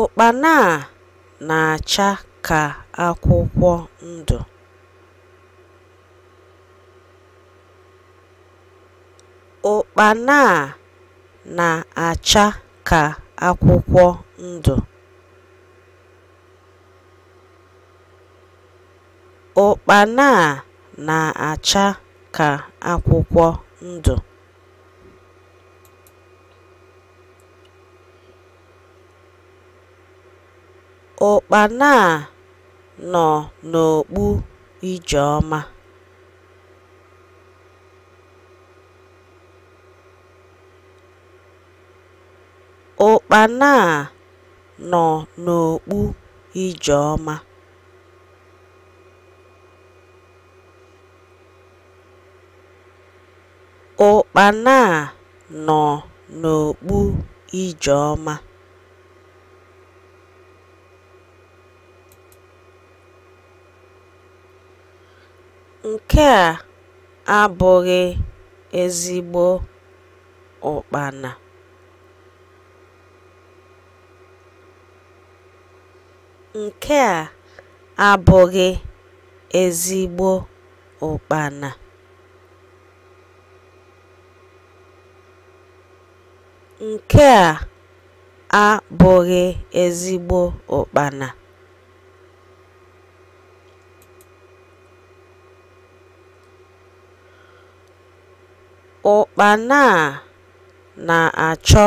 Ụkpana a na-acha ka akwụkwọ ndụ. Ụkpana a na-acha ka akwụkwọ ndụ. Ụkpana a na-acha ka akwụkwọ ndụ. Ụkpana a nọ n'okpu Ijeọma. Ụkpana a nọ n'okpu Ijeọma. Ụkpana a nọ n'okpu Ijeọma. Nke a abụghị ezigbo ụkpana. Nke a abụghị ezigbo ụkpana. Nke a abụghị ezigbo ụkpana. Ụkpana a na-achọ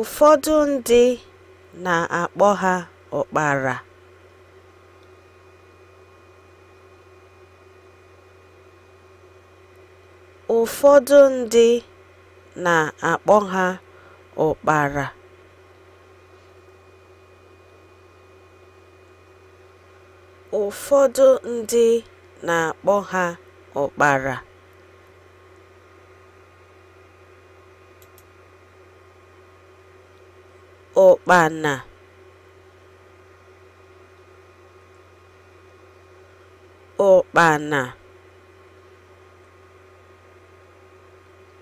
Ụfọdụ ndị na-akpọ ha ụkpara. Ụfọdụ ndị na-akpọ ha ụkpara. Ụfọdụ ndị na-akpọ ha ụkpara. Ụkpana Ụkpana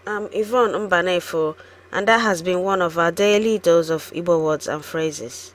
I'm Yvonne Mbanefo, and that has been one of our daily dose of Igbo words and phrases.